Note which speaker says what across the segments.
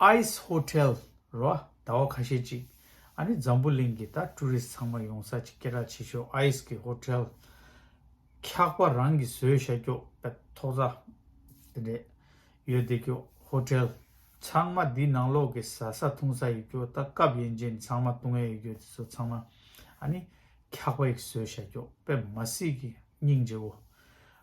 Speaker 1: Ice Hotel། རུ་ཨ་ཟླ་བ་ཁ་ཤས་ཅིག་ཨ་ནི་འཛམ་བུ་གླིང་གི་ད Tourist ཚང་མ་ཡོང་ས་ཅིག་སྐད་གྲགས་ཆེ་ཤོས Ice གི Hotel། འཁྱག་པ་རང་གི་ཟོས་ཤ་སྐྱོག་པད་ཐོག་རྩྭ། དེ་འདྲས་ཡོད་དེ་ཀྱོ Hotel། ཚང་མ་འདི་ནང་ལོག་གི་ཟ་ས་འཐུང་ས་ཡོད་ཀྱོ་ད་སྐབས་ཡན་ཅན་ཚང་མ་ལྟུང་ཡ་ཡོད་ཀྱོ་དེ་ཚོ་ཚང་མ་ཨ་ནི་འཁྱག་པ་ཡིག་ཟོས་ཤ་སྐྱོག་པད་མ་སིག་གི་སྙིང་རྗེ་བོ།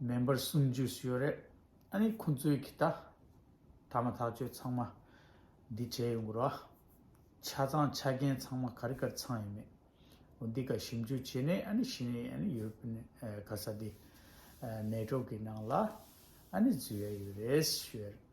Speaker 1: མེ་འབར་གསུམ་བརྗོད་སུ་ཡོད་རེད་ཨ་ནི་ཁོང་ཚོའི་གི་ད་ད་མ་ཐག་ཆོད་ཚང་མ་འདི་བྱས་ཡོང་གོ་ར་ཆ་ཚང་ཆ་རྐྱེན་ཚང་མ་ག་རི་གར་ཚང་ཡོད་མེད་འོ་འདི་ག་ཞིབ་འཇུག་བྱས་ནས་ཨ་ནི་ཤི་ནས་ཨ་ནི་ཡོད་པ་ནི་ག་ས་དེ་མལ་གྲོགས་གི་ནང་ལ་ཨ་ནི་བཟོས་ཡ་ཡོད་རེད་ཞུ་ཡ་རེད།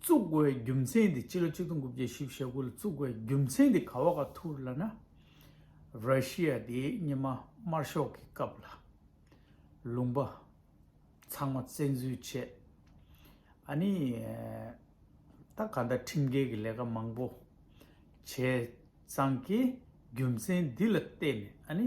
Speaker 1: བཙུགས་དགོས་རྒྱུ་མཚན་དེ་སྤྱི་ལོ་ཆིག་སྟོང་དགུ་བརྒྱ་བཞི་བཞི་དགུ་ལ་བཙུགས་དགོས་རྒྱུ་མཚན་དེ་ག་བ་ག་ཐུར་ལ་ན། ར་ཤི་ཡ་དེ་ཉི་མ་དམར་ཤོག་གི་སྐབས་ལ། ལུང་པ། ཚང་མ་བཙན་འཛུལ་བྱས། ཨ་ནི། ད་ག་ད་ཁྲིམས་འགལ་གྱི་ལས་ཀ་མང་པོ། བྱས་ཙང་གི་རྒྱུ་མཚན་འདི་ལ་བལྟས་ནས་ཨ་ནི།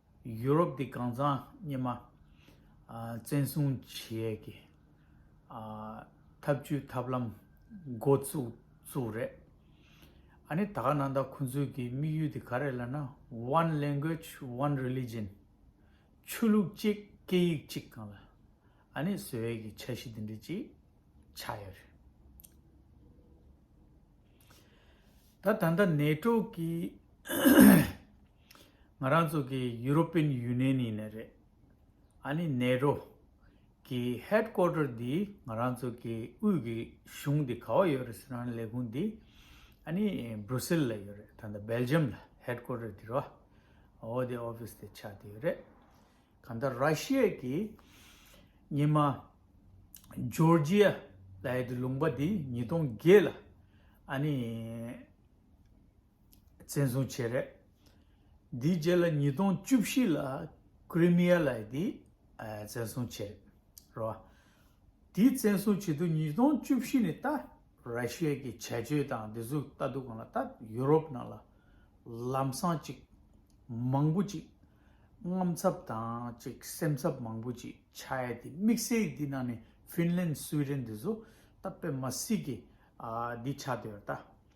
Speaker 1: ཡུ་རོབ་ཀྱི་གང་ཟག་སྙེ་མ་བཙན་བཟུང་བྱེད་ཀྱི་ཐབས་ཇུས་ཐབས་ལམ་འགོ་བཙུགས་རེད། ཨ་ནི་ད་ག་ནང་ད་ཁོང་ཚོས་ཀྱི་དམིགས་ཡུལ་དེ་ག་རེད་ལ་ན One Language One Religion ཆོས་ལུགས་གཅིག་སྐད་ཡིག་གཅིག་གང་ལ་ཨ་ནི་བཟོ་ཡས་ཀྱི་འཆར་གཞི་དེ་འདྲ་གཅིག་ཆགས་ཡོད་རེད། ད་ད་ནད་དྲུག་གི་ང་རང་ཚོ་གི་ཡུ་རོ་པིན་ཡུ་ནེན་ཡིན་ནི་རེད། ཨ་ནི་ནེ་རོ། གི་ཧེད་ཀོ་ཏར་འདི་ང་རང་ཚོ་གི་དབུས་ཀྱི་གཞུང་འདི་ག་བ་ཡོད་རེད་ཟེར་ན་ལས་ཁུངས་འདི་ཨ་ནི་སྦྲུ་སིལ་ལ་ཡོད་རེད་ད་ལྟ་སྦེལ་ཇམ་ལ་ཧེད་ཀོ་ཏར་འདི་རོ་ཨོ་དེ་ཨོ་ཕིས་དེ་ཆགས་འདི་ཡོད་རེད། གང་ལྟར་ར་ཤི་ཡའི་གི་ཉི་མ་ཇོར་ཇི་ཡ་ལ་ཡོད་དེ་ལུང་པ་འདི་ཉིས་སྟོང་བརྒྱད་ལ་ཨ་ནི་བཙན་བཟུང་བྱས། རེད་དེའི་རྗེས་ལ་ཉིས་སྟོང་བཅུ་བཞི་ལ་ཀི་རི་མི་ཡ་ལ་ཡི་དེ་བཙན་བཟུང་བྱས། རོ་དེའི་བཙན་བཟུང་བྱེད་དུས་ཉིས་སྟོང་བཅུ་བཞི་ནས་ད་ར་ཤི་ཡའི་གི་བྱས་བཅོས་དང་བདེ་གཟུགས་ལྟ་སྡུག་གང་ལ་ད་ཡུ་རོབ་ནང་ལ་ལམ་སང་ཅིག་མང་པོ་ཅིག་རྔམ་ཚབ་དང་ཅིག་སེམས་འཚབ་མང་པོ་ཅིག་བྱ་ཡ་དེ་དམིགས་བསལ་དེ་ནང་ནས་ཧྥིན་ལན་སུའི་རེན་དེ་ཚོ་ད་པེ་མ་སི་གི་དེ་བྱ་དོད་ད་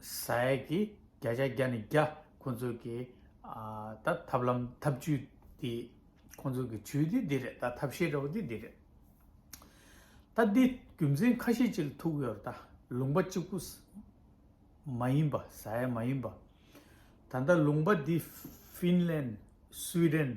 Speaker 1: ས་ཡ་གི་བརྒྱ་ཆ་བརྒྱ་ནས་བརྒྱ་ཁོང་ཚོ་གི་ད་ཐབས་ལམ་ཐབས་ཇུས་དེ་ཁོང་ཚོ་གི་ཇུས་དེ་འདི་རེད་ད་ཐབས་ཤེས་འདྲ་བོ་དེ་འདི་རེད། ད་འདི་རྒྱུ་མཚན་ཁ་ཤས་ཅིག་ཐུག་ཡོད་རེད་ད་ལུང་པ་གཅིག་པུ་མ་ཡིན་པ་ས་ཡ་མ་ཡིན་པ་ད་ལྟ་ལུང་པ་འདི་ཧྥིན་ལན་སུའི་ཏན་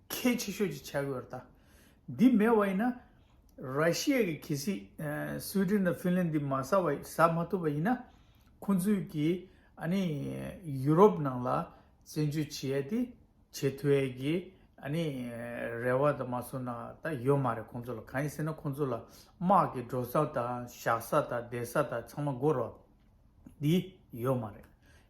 Speaker 1: གལ་ཆེ་ཤོས་ཀྱི་བྱ་དགོས་རེད། འདི་མེད་བ་ཡིན་ན། ར་ཤི་ཡའི་གི་གལ་སྲིད་སུའི་ཏྲིན་དང་ཧྥིན་ལན་འདི་མ་ཟ་བ་ཟ་མ་ཐུབ་པ་ཡིན་ན། ཁོང་ཚོས་གི་ཨ་ནི་ཡུ་རོབ་ནང་ལ་བཙན་བྱོལ་བྱེད་ཡས་དེ་བྱེད་ཐུབ་ཡས་གི་ཨ་ནི་རེ་བ་དང་མ་སོ་ན་ད་ཡོད་མ་རེད་ཁོང་ཚོ་ལ་གང་ཡིན་ཟེར་ན་ཁོང་ཚོ་ལ་དམག་གི་འགྲོ་ས་དང་བཞག་ས་དང་བསྡད་ས་དང་ཚང་མ་སྒོ་ར་འདི་ཡོད་མ་རེད།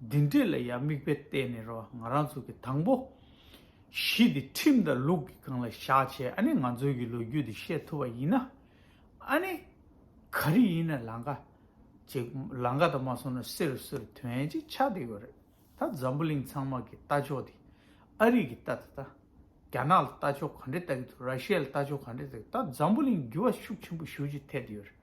Speaker 1: འདི་འདྲས་ལ་ཡང་མིག་དཔེ་བལྟས་ནས་རོ་ང་རང་ཚོ་གི་དང་པོ། གཞི་འདི་ཁྲིམས་དང་ལུགས་ཀྱི་སྒང་ལ་བཞག་བྱས་ཨ་ནི་ང་ཚོའི་གི་ལོ་རྒྱུས་འདི་ཤེས་ཐུབ་པ་ཡིན་ན། ཨ་ནི། ག་རེ་ཡིན་ན་ལང་ཀ། ཅིག་ལང་ཀ་དང་མ་སོང་ན་བསེ་རུ་བསེ་རུ་དོན་ཅིག་ཆགས་བསྡད་ཡོད་རེད་ད་འཛམ་བུ་གླིང་ཚང་མ་གི་ལྟ་ཕྱོགས་འདི་ཨ་རིག་གི་ལྟ་ད་ལྟ་རྒྱ་ནག་ལ་ལྟ་ཕྱོགས་ག་འདྲས་ལྟ་གི་འདུག་ར་ཤི་ཡ་ལ་ལྟ་ཕྱོགས་ག་འདྲས་ལྟ་གི་འདུག་ད་འཛམ་བུ་གླིང་འགྱུར་བ་ཤུགས་ཆེན་པོ་ཤུགས་ཆེ་ཐེབས་བསྡད་ཡོད་རེད།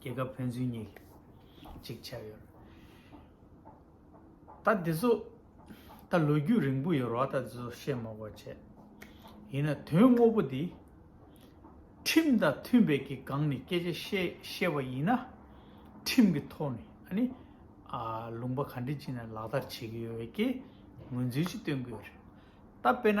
Speaker 1: རྒྱལ་ཁབ་ཕན་ཚུན་གཉིས་གཅིག་ཆགས་ཡོད། ད་དེ་ཚོ་ད་ལོ་རྒྱུས་རིང་པོ་ཡོད་རོགས་ད་དེ་ཚོ་བཤད་མ་གོ་བྱས། ཡིན་ན་དོན་དངོས་པོ་འདི་ཁྲིམས་དང་མཐུན་པའི་གི་སྒང་ནས་སྐད་ཆ་བཤད་བཤད་པ་ཡིན་ན་ཁྲིམས་གི་ཐོག་ནས་ཨ་ནི་ལུང་པ་ག་འདྲི་ཅིག་ནས་ལག་བསྟར་བྱེད་གི་ཡོད་ཀྱི་ངོས་འཛིན་ཅིག་སྟོན་གི་ཡོད་རེད་ད་དཔེ་ན།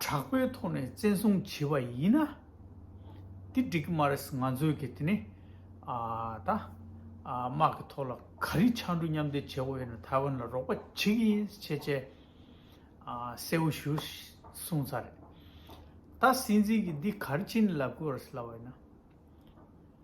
Speaker 1: དྲག་པོའི་ཐོག་ནས་བཙན་བཟུང་བྱས་པ་ཡིན་ན། དེ་འགྲིག་གི་མ་རེད་ང་ཚོས་ཀྱི་དེ་ནི་ད་དམག་གི་ཐོག་ལ་ག་རེ་འཆར་འགྲོ་མཉམ་འབྲེལ་བྱེད་དགོས་ཡོད་ན་ཐའེ་ཝན་ལ་རོགས་པ་བྱེད་ཀྱི་ཡིན་ཞེས་བཅས་གསལ་བོ་ཞུ་གསུངས་ཚར་རེད། ད་སྲིད་འཛིན་གྱིས་འདི་ག་རེ་བྱེད་ནས་ལབ་དགོས་རེད་ལབ་ཡོད་ན།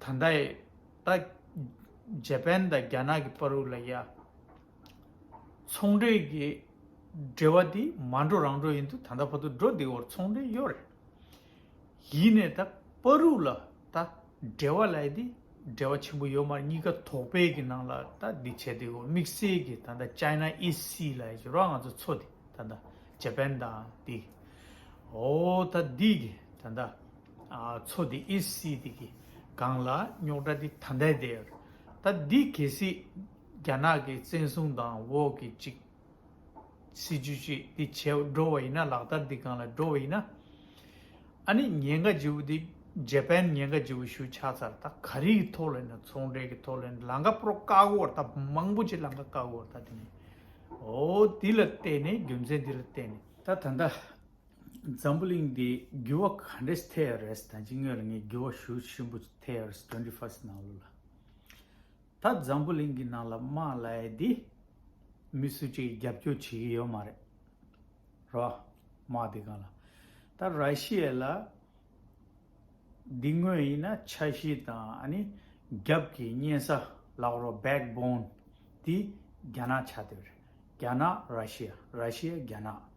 Speaker 1: ད་ལྟ་ཡི་ད་ཇེ་པན་དང་རྒྱ་ནག་གི་པ་རུ་ལ་ཡ་ཚོང་འབྲེལ་གྱི་འབྲེལ་བ་དེ་མ་འགྲོ་རང་འགྲོ་ཡིན་དུ་ད་ལྟ་བར་དུ་འགྲོ་འདི་འོར་ཚོང་འབྲེལ་ཡོད་རེད་ཡིན་ནས་ད་པ་རུ་ལ་ད་འབྲེལ་བ་ལ་ཡི་དེ་འབྲེལ་བ་ཆེན་པོ་ཡོད་མ་རེད་གཉིས་ཀ་དོག་པའི་གི་ནང་ལ་ད་འདི་བྱས་འདི་འོར་དམིགས་བསལ་གྱི་ད་ལྟ China East Sea ལ་ཡི་ཇོ་ར་ང་ཚོ་ཚོ་འདི་ད་ད་ཇེ་པན་དང་འདི་འོ་ད་འདི་གི་ད་ད། ཚོ་དེ་ཨི་སི་ཏི་གི་སྒང་ལ་རྙོག་དྲ་དེ་ད་ལྟའི་དེ་ཡོད་རེད་ད་འདི་གལ་སྲིད་རྒྱ་ནག་གི་བཙན་བཟུང་དང་འོག་གི་གཅིག་སྲིད་ཇུས་གཅིག་དེ་བྱས་འགྲོ་བ་ཡིན་ན་ལག་བསྟར་དེ་གང་ལ་འགྲོ་བ་ཡིན་ན་ཨ་ནི་ཉེན་ཁ་ལྗི་བོ་དེ་རྗེ་པན་ཉེན་ཁ་ལྗི་བོ་ཞུ་ཆགས་ཚར་ད་ག་རིག་གི་ཐོག་ལ་ཡིན་ན་ཚོང་འབྲེལ་གི་ཐོག་ལ་ཡིན་ན་ལང་ཀ་པོ་རོ་བཀག་གོ་བར་ད་མང་པོ་ཆེ་ལང་ཀ་བཀག་གོ་བར་ད་དེ་ནས་འོ་དེ་ལ་བལྟས་ནས་རྒྱུ་མཚན་དེ་ལ་བལྟས་ནས་ད་ད་ད། འཛམ་བུ་གླིང་འདི་འགྱུར་བ་ག་འདྲས་ཐེ་ཡོད་རེད་ད་ཅི་སྔོན་ལ་ངས་འགྱུར་བ་ཞུ་ཞིམ་པོ་ཐེ་ཡོད་རེད twenty first ནང་ལོ་ལ་ད་འཛམ་བུ་གླིང་གི་ནང་ལ་དམག་ལས་འདི་མི་སུ་གཅིག་རྒྱབ་སྐྱོར་བྱེད་ཀྱི་ཡོད་མ་རེད་རོ་དམག་འདི་ག་ལ་ད་ར་ཤི་ཡའི་ལ་འདི་དངོས་ཡིན་ན་ཆ་ཤི་དང་ཨ་ནི་རྒྱབ་ཀྱི་གཉན་ས་ལག་རོ back bone འདི་རྒྱ་ནག་ཆ་དེ་རེད་རྒྱ་ནག་ར་ཤི་ཡ་ར་ཤི་ཡ་རྒྱ་ནག།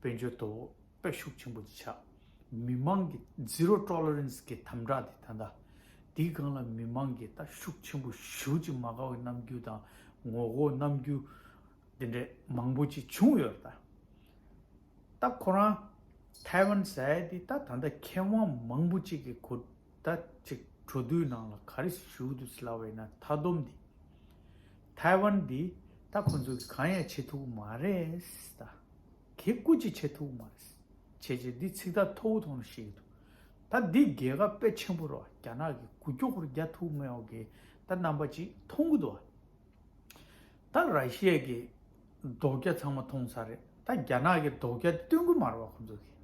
Speaker 1: དཔལ་འབྱོར་དོ་དཔལ་ཤུགས་ཆེན་པོ་བྱ། མི་དམངས་ཀྱི Zero Tolerance གི་དམ་དྲག་དེ་ད་ལྟ། དེའི་སྒང་ལ་མི་དམངས་ཀྱི་ད་ཤུགས་ཆེན་པོ་ཞུ་ཅིག་མ་དགའ་བའི་རྣམ་འགྱུར་དང་ངོ་རྒོལ་རྣམ་འགྱུར་དེ་འདྲས་མང་པོ་ཅིག་བྱུང་ཡོད་རེད་ད། ད་ཁོ་རང་ཐའེ་ཝན་ཟས་དེ་ད་ད་ལྟ་མཁས་དབང་མང་པོ་ཅིག་གི་གོ་ད་ཅིག་འགྲོ་དུས་ནང་ལ་ག་རེ་ཞུ་དུས་སླ་བས་ན་མཐའ་སྡོམ་དེ། ཐའེ་ཝན་འདི་ད་ཁོ་ཚོ་གིས་གང་ཡང་བྱེད་ཐུབ་མ་རེད་ད། གེ་སྐུ་ཅིག་བྱེད་ཐུབ་མ་རེད། བྱས་བྱས་འདི་ཚིག་ཐག་མཐོ་བོ་ཐོང་ནས་བཤད་ཀྱི་འདུག་ད་འདི་རྒྱལ་ཁབ་དཔེ་ཆེན་པོ་རོ་རྒྱ་ནག་གི་གུ་ཀྱོག་ཁུར་རྒྱ་ཐུག་མེད་འོ་གེ་ད་རྣམ་པ་ཅིག་མཐོང་གི་འདུག་ད་ར་ཤི་ཡའི་གི་རྡོག་རྒྱ་ཚང་མ་མཐོང་ས་རེད་ད་རྒྱ་ནག་གི་རྡོག་རྒྱ་སྟོན་གི་མ་རེད་བ་ཁོ་ཚོ་གིས་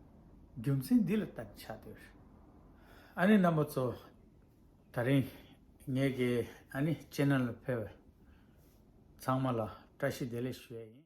Speaker 1: རྒྱུ་མཚན་འདི་ལ་ལྟ་ནས་ཆ་དོད་རེད་ཨ་ནི་རྣམ་པ་ཚོ། ད་རིང་ངེད་ཀྱི་ཨ་ནི་ཅེ་ནཱ་ལ་ཕེབས། ཚང་མ་ལ་བཀྲ་ཤིས་བདེ་ལེགས་ཞུ་ཡ་ཡིན།